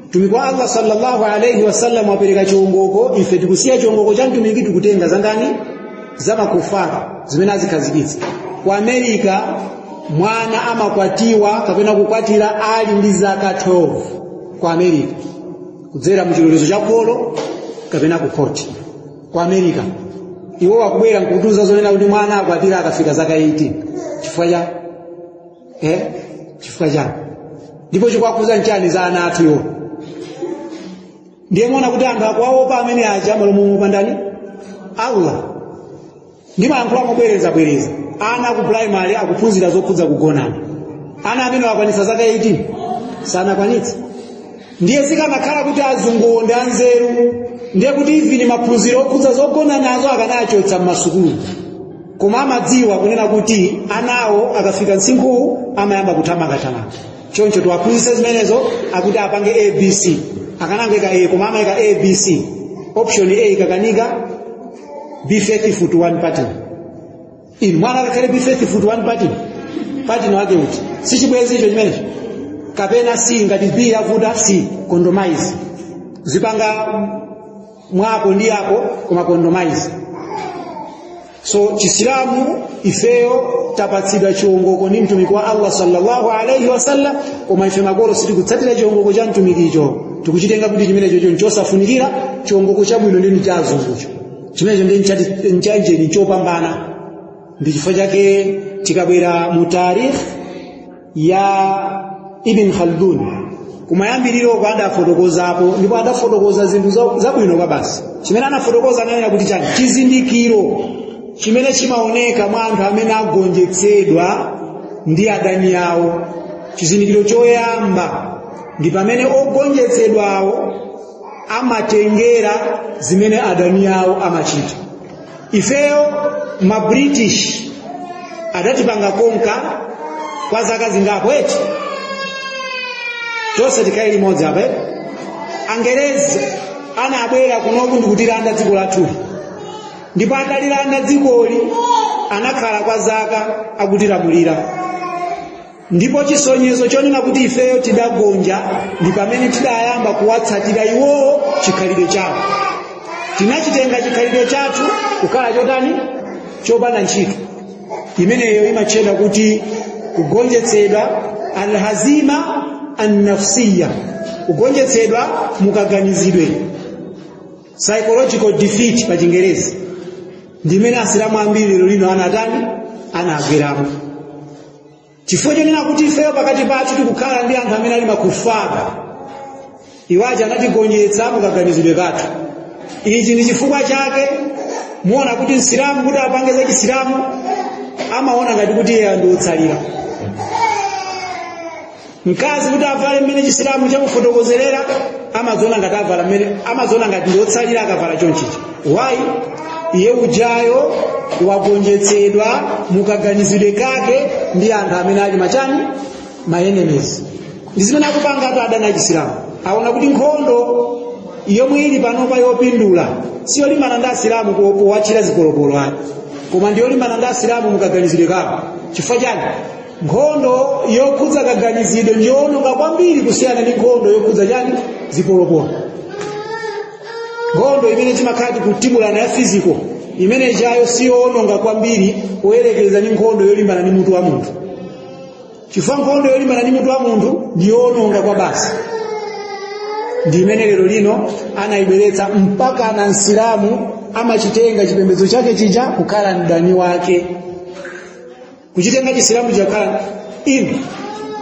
mtumiki wa allah sallallahu alaihi wasallam wapereka chiongoko ife tikusiya chiongoko cha mtumiki tikutenga zandani za makufara zimene azikhazikitsa ku america mwana amakwatiwa kapena kukwatira ali ndi zaka 12 ku america kudzera mu chilolezo cha kholo kapena ku khoti ku america iwo wakubwera nkutiuza zonena kuti mwana akwatire akafika zaka 18 chifukwa cha eh chifukwa chani ndipo chikuwakhudza nchani za ana athuyo ndiye muona kuti anthu akuwaopa amene aja m'malo moopa ndani allah ndimayankhula mobwerezabwereza ana aku primary akuphunzira zokhudza kugonana ana amene wakwanitsa zaka 18 sanakwanitsa ndiye zikanakhala kuti azunguwo ndi anzeru ndiye kuti even maphunziro okhudza zogonanazo akanawachotsa m'masukulu koma amadziwa kunena kuti anawo akafika msinkhuwu amayamba kuthamangathamanga choncho tiwaphunzitse zimenezo akuti apange abc akanangoika a koma amayika abc option a ikakanika be faithful to one party inu mwana akakhale be faithful to one party partner wake uti si chibwenzi icho chimenecho kapena c ngati b yavuta c condomise uzipanga mwako ndi mnzako koma condomise so chisilamu ifeyo tapatsidwa chiongoko ndi mtumiki wa allah sallallahu alaihi wasallam koma ife makolo sitikutsatira chiongoko cha mtumikicho tikuchitenga kuti chimenecho nchosafunikira chiongoko chabwino ndi cha azungucho chimenecho ndi ndiye nchachani nchopambana ndi chifukwa chake tikabwera mu tarikh ya ibn khaldun kumayambiriro uko adafotokozapo ndipo adafotokoza zinthu zabwino kwabasi chimene anafotokoza ananena kuti chani chizindikiro chimene chimaoneka mwa anthu amene agonjetsedwa ndi adani awo chizindikiro choyamba ndi pamene ogonjetsedwawo amatengera zimene adani awo amachita ifeyo ma british adatipanga conquer kwa zaka zingapo eti tonse tikhale limodzi apa eti angerezi anabwera kunoku ndikutilanda dziko lathuli ndipo atalilanda dzikoli anakhala kwa zaka akutilamulira ndipo chisonyezo chonena kuti ifeyo tidagonja ndi pamene tidayamba kuwatsatira iwowo chikhalidwe chawo tinachitenga chikhalidwe chathu kukhala chotani chopanda ntchito imeneyo imatchedwa kuti kugonjetsedwa alhazima annafsiya kugonjetsedwa mukaganizidwe psychological defeat pa chingerezi ndimene asilamu ambiri lero lino anatani anagweramo chifukwa chonena kuti ifeyo pakati pathu tikukhala ndi anthu amene ali makufar iwo aja anatigonjetsa mukaganizidwe kathu ichi ndi chifukwa chake muona kuti msilamu kuti apange za chisilamu amaona ngati kuti iye ndi otsalira mkazi kuti avale mmene chisilamu chamufotokozerera amaziona ngati avala mmene amaziona ngati ndi otsalira akavala chonchichi wayi iye ujayo wagonjetsedwa mukaganizidwe kake ndi anthu amene ali machani maenemies ndi zimene akupanga atu adani achisilamu aona kuti nkhondo yomwe ili panopa yopindula siyolimbana ndi asilamu powatchira zipolopolo ayi koma ndiyolimbana ndi asilamu mukaganizidwe kawo chifukwa chani nkhondo yokhudza kaganizidwe ndi yoononga kwambiri kusiyana ndi nkhondo yokhudza chani zipolopolo nkhondo imene timakhala tikutibulana ya fiziko imene ijayo si yoononga kwambiri poyerekeza ndi nkhondo yolimbana ndi mutu wa munthu chifukwa nkhondo yolimbana ndi mutu wa munthu ndi yoononga kwa basi ndi imene lero lino anayibweretsa mpakana msilamu amachitenga chipembedzo chake chija kukhala mdani wake kuchitenga chisilamu chakhala inu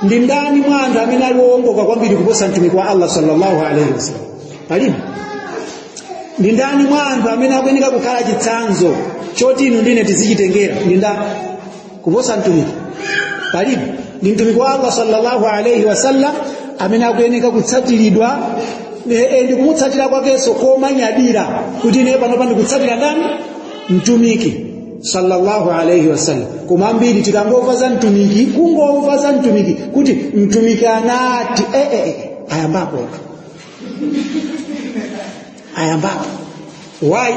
ndi ndani mwa anthu amene ali woongoka kwambiri kuposa mtumiki wa allah sallallahu alaihi wasallam palibe ndi ndani mwa anthu amene akuyenera kukhala chitsanzo choti inu ndine tizichitengera ndi ndani kuposa mtumiki palibe ndi mtumiki wa allah sallallahu alaihi wasallam amene akuyenera kutsatiridwa ndi kumutsatira kwakenso komanyadira kuti ine panopa ndikutsatira ndani mtumiki sallallahu alaihi wasallam koma ambiri tikangomva za mtumiki kungomva za mtumiki kuti mtumiki anati eh, eh, eh, ayambapotu ayambapo why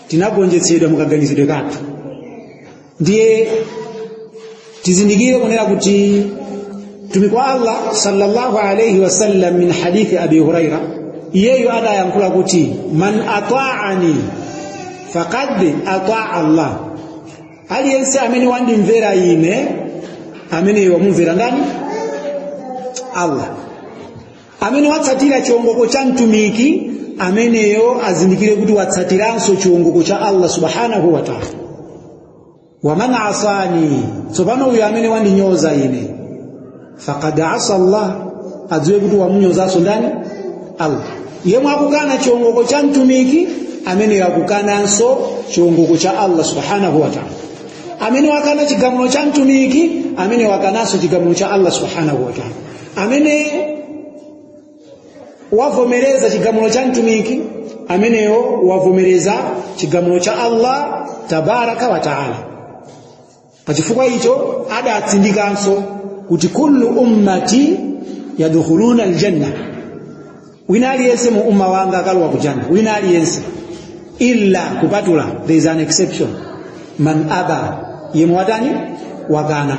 tinagonjetsedwa mukaganizidwe kathu ndiye tizindikire kunena kuti mtumiki wa allah sallallahu alaihi wasallam min hadithi abi huraira iyeyo anayankhula kuti man ataani faqad ataa allah aliyense amene wandimvera ine ameneyo wamumvera ndani allah amene watsatira chiongoko cha mtumiki ameneyo azindikire kuti watsatiranso chiongoko cha allah subhanahu wa taala waman asani tsopano uyo amene wandinyoza ine faqad asa allah adziwe kuti wamunyozanso ndani allah yemwe akukana chiongoko cha mtumiki ameneyo akukananso chiongoko cha allah subhanahu wa taala amene wakana chigamulo cha mtumiki amene wakananso chigamulo cha allah subhanahu wa taala amene wavomereza chigamulo cha mtumiki ameneyo wavomereza chigamulo cha Allah tabaraka wa taala pachifukwa icho adatsindikanso kuti kullu ummati yadkhuluna aljanna wina aliyense mu umma wanga akalowa kujanna wina aliyense illa kupatula there is an exception man aba yemwe watani wakana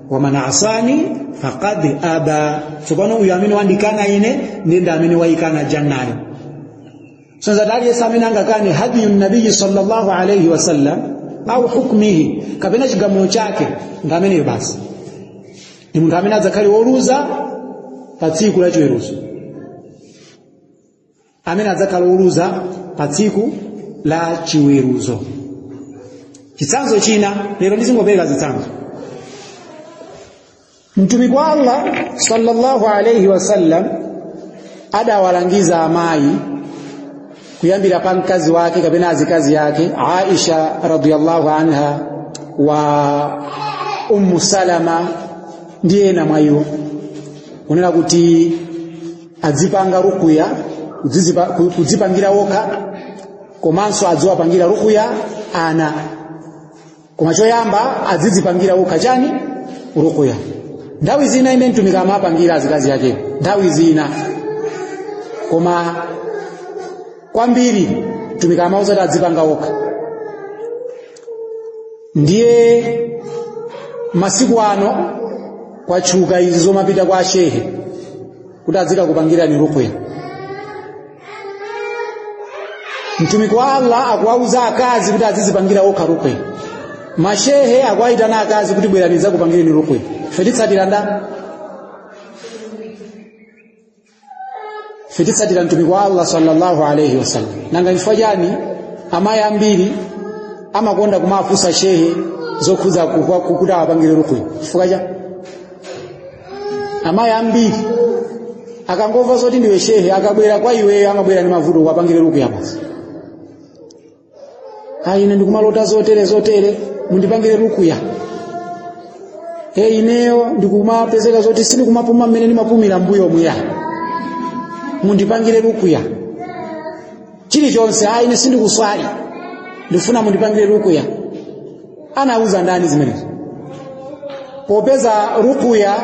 waman asani faqad aba tsopano uyu amene wandikana ine ndi amene wayikana jannayo sonza kuti aliyense amene angakane hadiyu nabiyi sallallahu alaihi wasallam au hukmihi kapena chigamulo chake ndiye ameneyo basi ndi munthu amene adzakhale woluza pa tsiku la chiweruzo amene adzakhala oluza pa tsiku la chiweruzo chitsanzo china lero ndizingopereka zitsanzo mtumiki wa allah sallallahu alaihi wasallam adawalangiza amayi kuyambira pa mkazi wake kapena azikazi ake aisha radiyallahu anha wa ummu salama ndi ena mwa iwo kunena kuti adzipanga rukuya kudzipangira wokha komanso adziwapangira rukuya ana koma choyamba adzidzipangira wokha chani rukuya nthawi zina mwini mtumiki amapangira azikazi ake nthawi zina koma kwambiri mtumiki amawauza kuti adzipanga wokha ndiye masiku ano kwatchuka izi zomapita kwa ashehe kuti adzikakupangirani ruqya mtumiki wa allah akuwauza akazi kuti azizipangira okha ruqya mashehe akuwayitana akazi kuti bwerani ndidzakupangireni ruqya ife titsatira nda ife titsatira mtumiki wa allah sallallahu alaihi wasallam nanga chifukwa chani amayi ambiri amakonda kumafunsa shehe zokhudza kukwa- kuti awapangire rukuya chifukwa chani amayi ambiri akangomva zoti ndiwe shehe akabwera kwa iweyo amabwera ndi mavuto ukawapangire rukuya basi ayi ine ndikumalota zotere zotere mundipangire rukuya e ineyo ndikumapezeka zoti sindikumapuma mmene ndimapumira mbuyo muya mundipangire rukuya chilichonse ayi ine sindikuswali ndifuna mundipangire rukuya anawauza ndani zimenezo popeza rukuya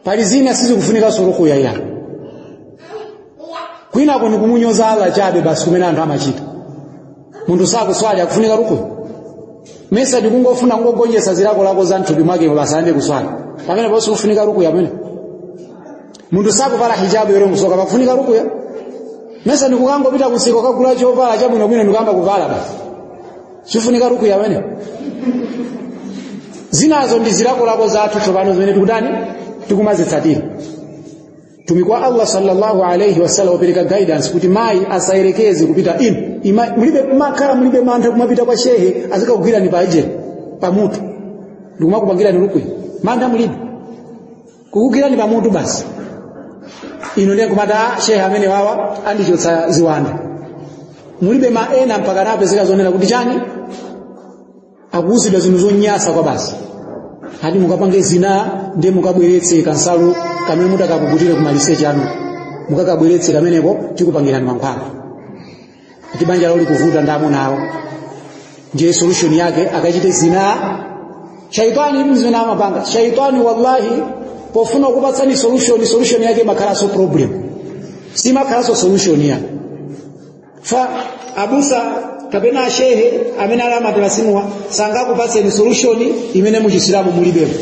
pali zina sizikufunikanso rukuya ya kwinako ni kumunyoza Allah chabe basi kumene anthu amachita munthu sakuswali akufunika rukuya nesa ndikungofuna kungogonjesa zilakolako za mthupi mwake basi and kuswali pamene ponse kufunika rukuya pamene munthu sakuvala hijabu yero musoka pakufunika rukuya nesa ndikungopita kumsika kukagula chovala chabwinobwino ndikuyamba kuvala basi sifunika rukuya pamenepo zinazo ndi zilakolako zathu tsopano zimene tikutani tikumazitsatira mtumiki wa allah sallallahu alaihi wasallam wapereka guidance kuti mayi asayerekeze kupita inu amayi, mulibe nkhawa mulibe mantha kumapita kwa shehe azikakugwirani pa ejeni pamutu ndikumakupangirani rukuya mantha mulibe kukugwirani pamutu basi inu ndiye nkumati a shehe amenewawa andichotsa ziwanda mulibe ma ena mpaka anapezeka zonena kuti chani akuuzidwa zinthu zonyansa kwabasi ati mukapange zina ndiye mukabweretse kansalu kamene mutakapukutire kumaliseche kwanu mukakabweretse kameneko tikupangirani mankhwala kuti banja lawo likuvuta ndi amuna awo ndiye solution yake akachite zina shaitani ndi zimene amapanga shaitani wallahi pofuna kupatsani solution solution yake imakhalanso problem siimakhalanso solution yake fa abusa kapena ashehe amene ali amatalasimuwa sangakupatseni solution imene muchisilamu mulibemo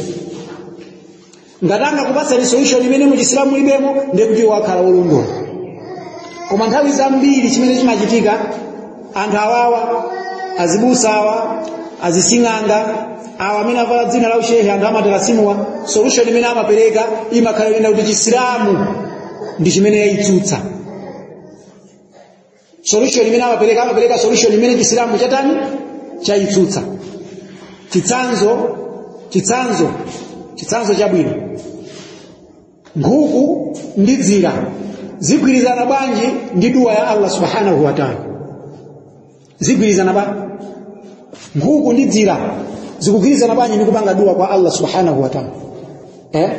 ngati angakupatseni solution imene mu chisilamu mulibemo ndiye kuti sakhala wolondola koma nthawi zambiri chimene chimachitika anthu awawa azibusa awa azising'anga awa amene avala dzina la ushehe anthu amatalasimuwa solution imene amapereka imakhala yonena kuti chisilamu ndi chimene yayitsutsa solution imene amapereka solution imene chisilamu chatani chayitsutsa chitsanzo chabwino nkhuku ndi dzira zigwirizana bwanji ndi duwa ya allah subhanahu wa taala zigwirizana bwanji nkhuku ndi dzira zikugwirizana bwanji ndi kupanga duwa kwa allah subhanahu wa taala eh?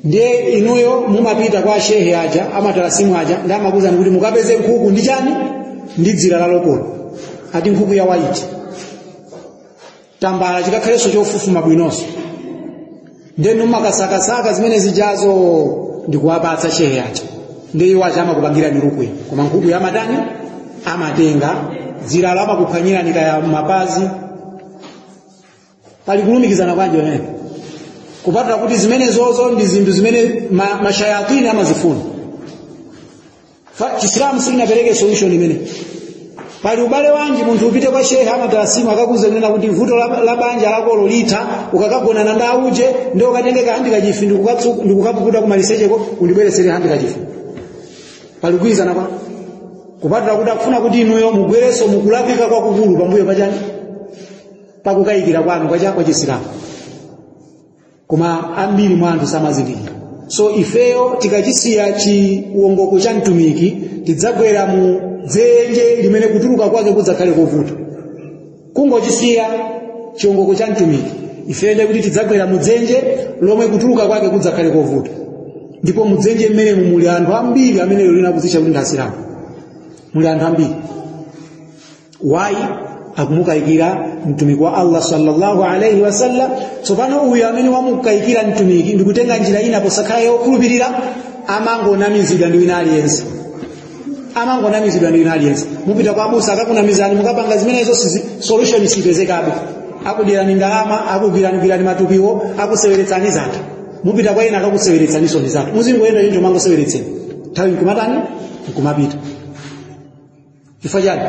ndiye inuyo mumapita kwa shehe aja amatalasimu aja ndi amakuuzani kuti mukapeze nkhuku ndi chani ndi dzira la lokolo ati nkhuku ya waiti tambala chikakhalenso chofufuma bwinonso nde inu mumakasakasaka zimene zijazo ndikuwapatsa shehe aja ndiye iwo aja amakupangirani rukuya koma nkhukuyo amatani amatenga dziralo amakuphwanyirani kaya m'mapazi pali kulumikizana bwanji pamene kupatula kuti zimenezozo ndi zinthu zimene ma, mashayatini amazifuna Fa- chisilamu sichinapereke solution imene pali ubale wanji munthu upite kwa shehe amatarasimu akakuze kunena kuti vuto la, la banja lakolo litha ukakagonana ndi auje ndi ukatenge kahandikachifi ndikukatsu- ndikukapukuta kumalisecheko undibweretsere handikachifi pali kugwirizana kwa kupatula kuti akufuna kuti inuyo mugwerenso mukulakwitsa kwakukulu pambuyo pachani pakukayikira kwanu kwa chakwa chisilamu koma ambiri mwa anthu samazindikira so ifeyo tikachisiya chiwongoko cha mtumiki tidzagwera mu dzenje limene kutuluka kwake kudzakhale kovuta kungochisiya chiwongoko cha mtumiki ifeyo ndiye kuti tidzagwera mu dzenje lomwe kutuluka kwake kudzakhale kovuta ndipo mu dzenje mmenemu muli anthu ambiri amene lero lino akudzitcha kuti ndi asilamu muli anthu ambiri why akumukayikira mtumiki wa allah sallallahu alaihi wasallam tsopano uyu amene wamukayikira mtumiki ndikutenga njira ina posakhala yokhulupirira amangonamizidwa ndi wina aliyense amangonamizidwa ndi wina aliyense mupita kwa abusa akakunamizani mukapanga zimenezo sizi- solution sipezekabe akudyerani ndalama akugwiranigwirani matupimo akuseweretsani zake mupita kwa ena akakuseweretsaniso ndi zake muzingoyenda choncho mangoseweretseni nthawi nkumatani nkumapita chifukwa chani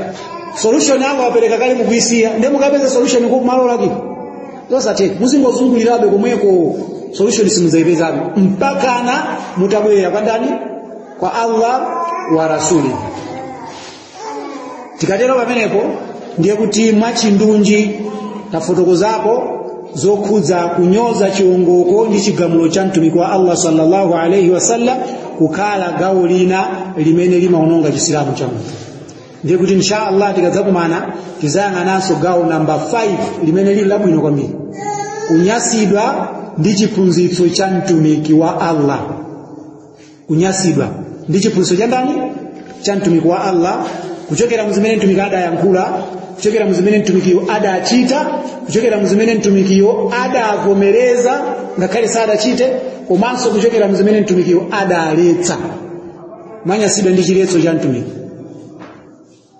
solution Allah wapereka kale mukuisiya ndiye mukapeze solution ku malo olakwika zosatheka muzingozungulirabe komweko solution simuzaipezabe mpakana mutabwerera kwa ndani kwa allah wa rasuli tikatero pamenepo ndiye kuti mwachindunji tafotokozapo zokhudza kunyoza chiwongoko ndi chigamulo cha mtumiki wa allah sallallahu alaihi wasallam kukhala gawo lina limene limaononga chisilamu cha munthu ndiye kuti insha allah tikadzakumana tizayang'ananso gawo namba 5 limene lili labwino kwambiri kunyasidwa ndi chiphunzitso cha mtumiki wa allah kunyasidwa ndi chiphunzitso cha ndani cha mtumiki wa Allah kuchokera mzimene mtumiki adayankhula kuchokera mzimene mtumikiyo adachita kuchokera mzimene mtumikiyo adavomereza ngakhale sadachite komanso kuchokera mzimene mtumikiyo adaletsa kunyasidwa ndi chiletso cha mtumiki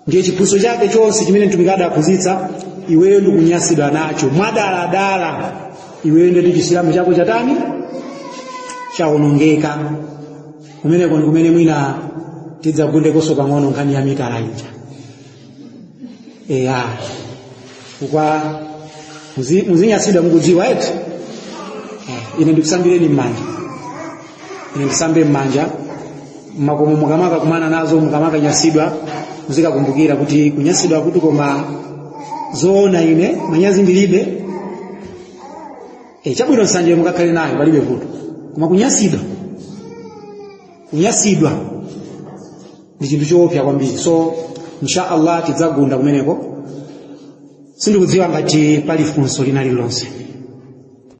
ndiye chiphunzitso chake chonse chimene mtumiki adaphunzitsa iweyo ndikunyasidwa nacho mwadaladala iweyo ndeti chisilamu chako chatani chawonongeka kumeneko ndi kumene mwina tidzagundekonso pang'ono nkhani ya mitala ija eya kukwa muzi- muzinyasidwa mukudziwa eti Eh, ine ndikusambireni m'manja ine ndisambire m'manja makomo mukamakakumana nazo mukamakanyasidwa muzikakumbukira kuti kunyasidwa kuti koma zoona ine manyazi ndilibe e, chabwino nsanjeyo mukakhale nayo palibe vuto koma kunyasidwa kunyasidwa ndi chinthu choopsa kwambiri so insha allah tidzagunda kumeneko sindikudziwa ngati pali funso lina lililonse